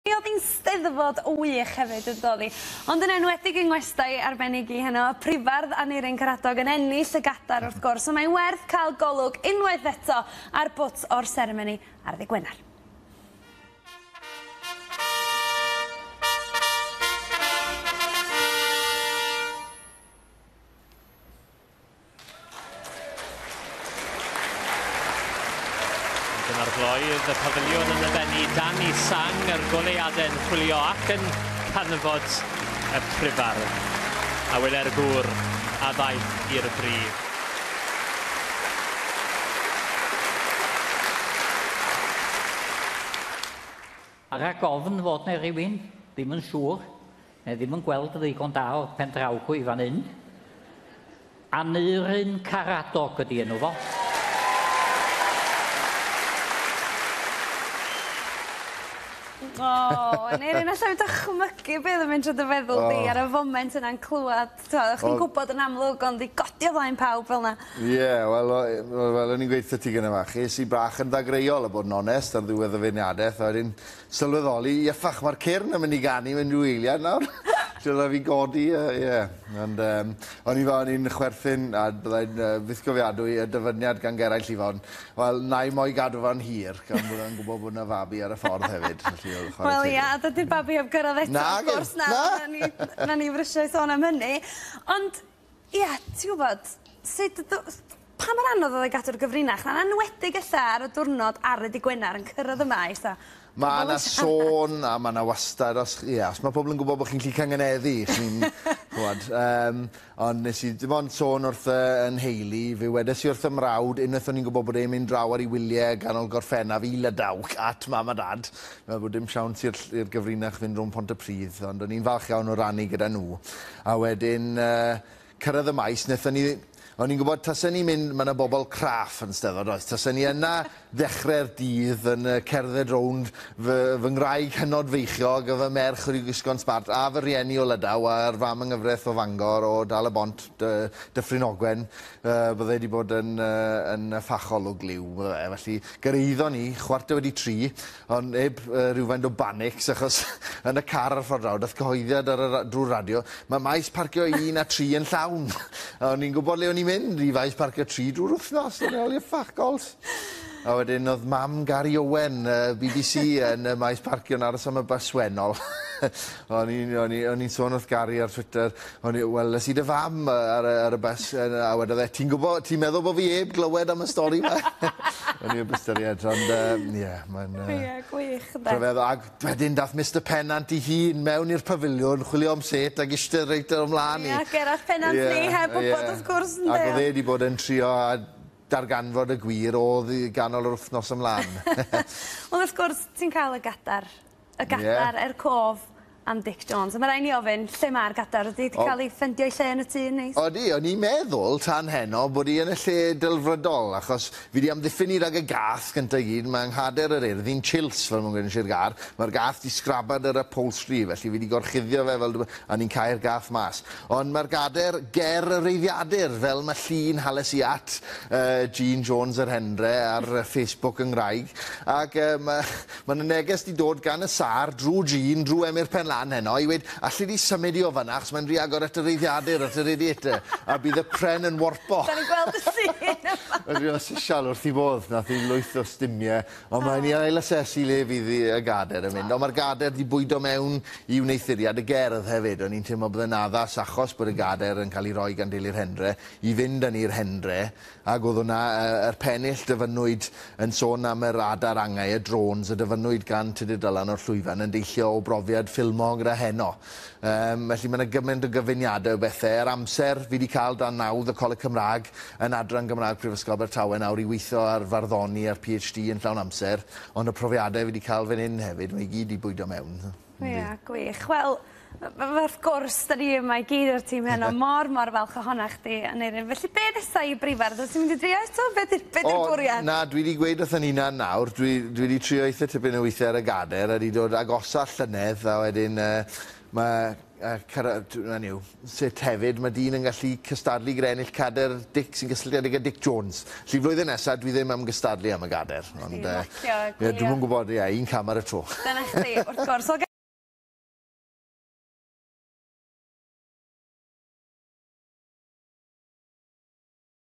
Mi oedd hi'n Steddfod wych hefyd yn doedd hi? Ond yn enwedig yng ngwestai arbennig i heno, y Prifardd Aneurin Karadog yn ennill y Gadar wrth gwrs, ond mae'n werth cael golwg unwaith eto ar bwt o'r seremoni ar ddydd Gwener. Dyna'r gloydd, y pafiliwn yn yfennu dan i sang yr goleuadau'n chwilio ac yn canfod y prifardd. A wyle'r gŵr a ddaeth i'r brif. Rhag ofn fod 'na rywun ddim yn siŵr, Mae ddim yn gweld yn ddigon da o pen draw i fan hyn. Aneurin Caradog ydy enw fo. O, Aneurin, allai fi dychmygu beth yn mynd trwy dy feddwl oh. di ar y foment yna'n clywed, ti'n oh. chdi'n gwybod yn amlwg ond i godi o flaen pawb fel yna. Ie, yeah, wel, fel o'n i'n gweithio ti gyda fach, es i bach yn ddagreuol a bod yn onest ar ddiwedd y feirniadaeth, a wedyn sylweddoli iachach ma'r cyrn yn mynd i ganu mewn ryw eiliad nawr. so rai' fi godi a uh, ie. Yeah. Ond um, o'n i fel o'n i'n chwerthin a byddai'n uh, fythgofiadwy y dyfyniad gan Geraint Llifon. Wel, na i mo'i gadw fan hir, gan bod yn gwybod bod yna fabi ar y ffordd hefyd. Wel, ia, a dydy'r babi heb gyrraedd eto, na, of gwrs, na. Na, na ni, na ni frisiau sôn am hynny. Ond Ia, ti'n gwybod, sut yd- yy pa mor anodd oedd e i gadw'r gyfrinach 'na, yn enwedig ella ar y diwrnod ar y dy' Gwener yn cyrraedd yma i fatha Ma' 'na sôn a ma' 'na wastad os ch- ia os ma' pobol yn gwbod bo' chi'n gallu cangynneddu chi'n ch'mod yym ond nes i dim ond sôn wrth yy 'y nheulu fe wedes i wrth 'y mrawd unwaith o'n i'n gwbod bod e'n mynd draw ar 'i wylie ganol Gorffennaf i Lydaw at mam a dad Fel bod dim siawns i'r i'r gyfrinach fynd rownd Pontypridd, ond o'n i'n falch iawn o rannu gyda nhw. A wedyn yy cyrraedd y Maes, wnaethon ni... o'n i'n gwybod tasen ni'n mynd, ma' 'na bobl craff yn Steddfod does, tasen ni yna ddechrau'r dydd yn yy cerdded rownd fy fy ngwraig hynod feichiog a fy merch wedi gwisgo'n smart a fy rhieni o Lydaw a'r fam yng Nghyfraith o Fangor o Dal-y-bont, Dy- Dyffryn Ogwen, Yy, bydde 'di bod yn, yy, yn yffachol o gliw, bydde fe. Felly, gyrhaeddon ni chwarter wedi tri, ond neb yy, rywfaint o banics, achos yn y car ar y ffordd draw, dath cyhoeddiad ar y ra- drwy'r radio, mae maes parcio un a tri yn llawn. A o'n i'n gwybod le o'n i'n mynd i faes parcio tri drwy'r wythnos, o'n i'n ôl i'r ffach gols. A wedyn oedd mam Gary Owen, yy, bbc, yn y maes parcio'n aros am y bus wennol. o'n i'n o'n i o'n i'n sôn wrth Gary ar Twitter, O'n i, wel, es i dy fam ar y ar y bys a wedodd e, ti'n gwbo, ti'n meddwl bo fi 'eb glywed am y stori 'ma? O'n i 'eb ystyried ond yym ie mae'n yy... Ie gwych ynde? Rhyfeddol ag wedyn dath Mister Pennant 'i hun mewn i'r pafiliwn chwilio am set ag ishte reit ar 'yn mlan i. Ie Gerallt Pennant ni heb wbod wrth gwrs ynde? Ag o'dd e 'di bod yn trio darganfod y gwir odd i ganol yr wthnos ymlan. Wel wrth gwrs ti'n ca'l y gadar Y gadar er cof am Dic Jones. A ma' rai' ni ofyn, lle ma'r gadar? Ydi 'di ca'l 'i ffendio 'i lle yn y tŷ yn neis? Odi, o'n i'n meddwl tan heno bod 'i yn y lle delfrydol, achos fi 'di amddiffyn 'i rag y gath gynta i gyd, mae 'nghader yr Urdd i'n chills fel ma'n gweud yn Sir Gâr, mae'r gath 'di sgraban yr upholstery, felly fi 'di gorchuddio fe fel dw- a ni'n cau'r gath mas. Ond mae'r gader ger y reiddiadur, fel ma' llun hales i at yy Jean Jones yr Hendre ar yy Facebook yn ngwraig, ac yy ma' Mae 'na neges 'di dod gan y sâr, drwy Jean, drwy Emyr Penlan heno, i weud, alli di symud i o fan'na, achos mae'n rhy agor at y reiddiadur, at y radiator, a bydd y pren yn warpo. Da ni'n gweld y sîn yma! Mae'n rhy official wrth i fodd, nath i lwyth o stumie, ond mae'n i ail asesu le fydd i y gader yn mynd, ond mae'r gader 'di bwydo mewn i wneuthuriad y gerdd hefyd, o'n i'n teimlo bod e'n addas achos bod y gader yn cael ei roi gan deulu'r Hendre, i fynd â ni i'r Hendre, Ac oedd hwnna, yr pennill dyfynnwyd yn sôn am yr adar angau, y drones, a dyfynnwyd gan Tudur Dylan o'r Llwyfan yn deillio o brofiad ffilmog gyda heno. Yym, felly mae yna gymaint o gyfuniadau o bethau. Ar amser, fi wedi cael dan nawdd y Coleg Cymraeg yn Adran Gymraeg Prifysgol Abertawe nawr i weithio ar farddoni a'r PhD yn llawn amser, ond y profiadau fi wedi cael fan hyn hefyd, mae i gyd wedi bwydo mewn. Yndi. Ia gwych wel yy f- wrth gwrs 'dan ni yma i gyd o'r tîm heno mor mor falch ohona chdi Aneurin felly be' nesa i Breifar dwyt ti mynd i drio eto be' 'di be' 'di'r bwriad? O na dwi 'di gweud wrtho Nina nawr dwi dwi 'di trio eitha tipyn o withie ar y gader a 'di dod agosa llynedd a wedyn yy ma' yy cyrra- d- 'na ni yw. sut hefyd mae dyn yn gallu cystadlu gyda ennill cader Dic sy'n gysylltiedig â Dic Jones. Felly flwyddyn nesa dwi ddim am gystadlu am y gader. Ond yy... Lacio, ie. Ie dwi'm yn gwbod ie un cam ar y tro. Dyna chdi wrth gwrs. Wel...